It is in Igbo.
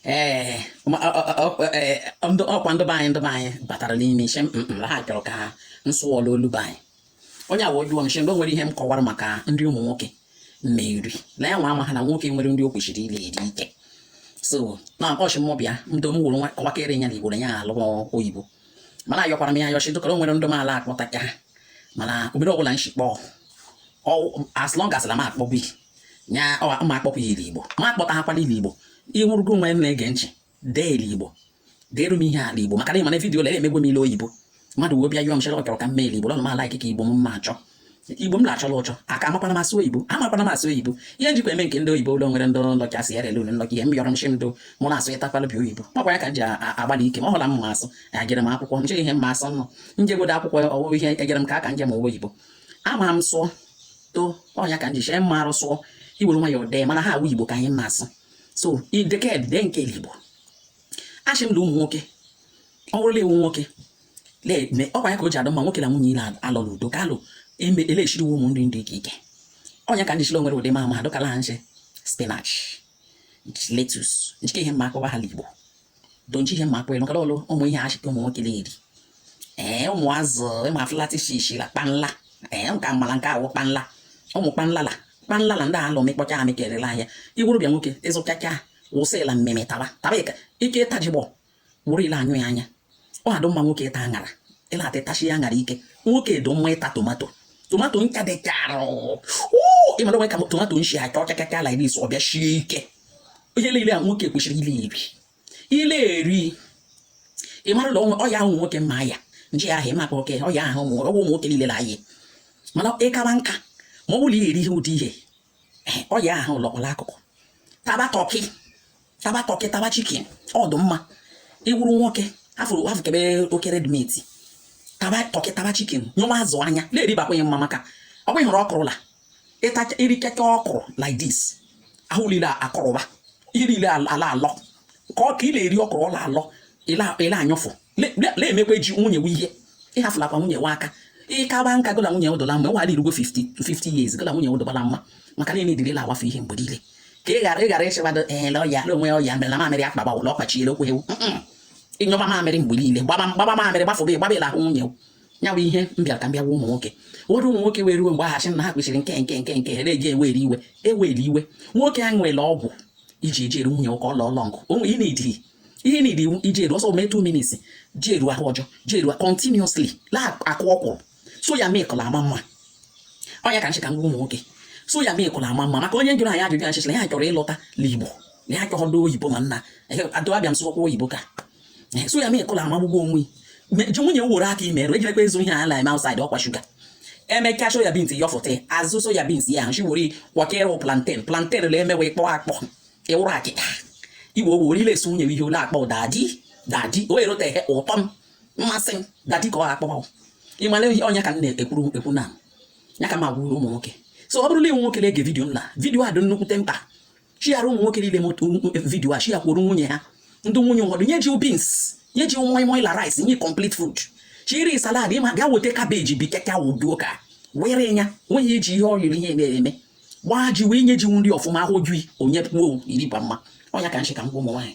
ee ọkwa ndụ be anyị ndụ be anyị batara n'ime isi mm, mm, ha chọrọ ka m sụọ la olu be anyị onye awa ojuo nche mgbe nwere ihe m kọwara maka nri ụmụ nwoke mmeri na ya nwa ama ha na nwoke nwere nri o kwesịrị ile eri ike so na ọ shị mụ bịa ndo m wụrụ nwa kọwakere ya na igbo na ya alụ oyibo mana ayọkwara m ya ayọ shị dụkara o nwere ndụ m ala akpọta ka ha mana obere ọbụla nshikpọ as long as na m akpọbi nya ma akpọkwa ya Igbo m akpọtahakwa la Igbo ịnwụrụgo onwe m na-ege ntị dee Igbo deere m ihe a la Igbo maka na ịma na vidiyo lere emegwe m ile oyibo mmadụ wee bịa yọọ m chere ọ chọrọ ka m mee Igbo lọnụ m ala ikike Igbo m ma achọ igbo m na-achọla ụchọ aka amakwa na m asụ oyibo amakwa na m asụ oyibo ihe njikwa eme nke ndị oyibo la o nwere ndị nlọkị asị ya rele ule nlọkị ihe m yọrọ m shi ndụ mụ na-asụ ịtakwala bi oyibo makwa ya ka m ji agbalị ike ma ọ wụ la m asụ agere m akwụkwọ nche ihe mma asụ nọ njegodo akwụkwọ ọwụwa ihe egere m ka aka njem owe oyibo ama m sụọ so ọ nya ka m ji shị mma arụsụọ i were nwayọ dee mana ha awụ igbo ka anyị mma asụ so ideked dee nke igbo ashị m la ụmụ nwoke ọ bụrụ la ị wụ nwoke na-eme ọkwa ya ka o ji adụ mma nwoke na nwunye ile alọ n'udo ka alụ eme elechiriwo ụmụ nri ndị ike ike ọ nya ka m ji shị o nwere ụdị ma ama adọkala ha nche spinach lettuce njike ihe mma akọwa ha la igbo donchi ihe mma kwere nọkọrọ ọrụ ụmụ ihe ashị ka ụmụ nwoke na-eri ee ụmụ azụ ịma afụlatị shishi la kpanla ee nka mara nke awụ kpanla ụmụ kpanla la kpanla la ndị a la amịkpọcha amị kerela ahịa ị wụrụ bịa nwoke ịzụchacha wụsị la mmemme taba taba ike ịtajigbọ wụrụ ile anyụ ya anya ọ dụ mma nwoke ịta aṅara ị na-ata ịtachi ya aṅara ike nwoke dị mma ịta tomato tomato ncha dị chara ị mara o nwe ka tomato nshi acha ọcha ka ka a la eri ọ bịa shie ike ihe niile a nwoke kwesịrị ile eri ile eri ị mara la o nwe ọya ahụ nwoke mma ya nje ahụ ịmakwa oke ọya ahụ ọ wụ ụmụ nwoke niile na ayị mana ị kawa nka ma ọ bụrụ ile eri ihe ụdị ihe ọya ahụ lọkpọrọ akụkụ taba turkey taba turkey taba chicken ọ dụ mma ị wụrụ nwoke afụrụ afụkebe oke red meat taba turkey taba chicken nyụwa azụ anya na-eribakwanye mma maka ọ bụghị hụrụ ọkụrụ la ịta i riketa ọkụrụ like this ahụ niile akọrọba ihe niile ala alọ ka ọ ka ị na-eri ọkụrụ ọ la alọ ị la anyụfụ na-emekwa eji nwunye nwe ihe ịhafụlakwa nwunye nwe aka ị kaba nka gụ la nwunye ụdọla mma nwaala irugo 50 to 50 years gụ la nwunye ụdọbala mma maka na edirila awafe ihe mgbe niile ka ị ghara ịghara ịchịbado ele ọya na o nwe ọya mere na mamịrị akpa gbawụla ọkpachiere okwu ewu ị nyụba mamịrị mgbe niile gbaba mamịrị gbafụba gbaba ị la ahụ nwunye ya bụ ihe m bịara ka m bịa gwa ụmụ nwoke ụfọdụ ụmụ nwoke were iwe mgbe ahachi na ha kwesịrị nke nke nke nke ere eji ewere iwe ewere iwe nwoke a nwere ọgwụ iji eji eru nwunye ụka ọlọ ọlọ nkụ onwe ị na-ediri ihe na iwu iji eru ọsọ mee 2 minutes ji eru ahụ ọjọọ ji eru continuously la akụ ọkwụrụ soya milk ọ la ama mma ọ nya ka nshị ka m gwa ụmụ nwoke soya milk ọ la ama mma maka onye jụrụ anyị ajụjụ achịchịla ya chọrọ ịlọta n'igbo na ya chọghọdo oyibo mana adọabịa m sụkwa oyibo ka soya milk ọ la amagbugbo onwe ji nwunye woro aka imerụ ejirekwa ezu ihe ala ime outside ọkwa shuga eme ka soya beans yọfụta azụ soya beans ya nchi wori kwakere plantain plantain la emewe kpọọ akpọ ị wụrụ akịta igwe ogbe orile esi nwunye ihe ọ la akpọ dadi dadi o eroteghị ụtọ m mmasị m dadi ka ọ akpọ ị mara ihe ọ nya ka m na-ekwuru ekwu na ya ka m agwụrụ ụmụ nwoke so ọ bụrụ na i nwe nwoke na-ege vidio m na vidio a dị nnukwute mkpa chighara ụmụ nwoke niile vidio a chighakwuru nwunye ha ndị nwunye ụfọdụ nye ji bins nye ji moi moi la rice nye complete food chiri salad ịma bịa weta kabeji bi keke awụduo ka were ya nweghị iji ihe ọ riri ihe mere eme gbaa ji wee nye ji nri ọfụma afọ ju i o nyekwuo i riba mma ọ ya ka nshị ka m gwa ụmụ nwaanyị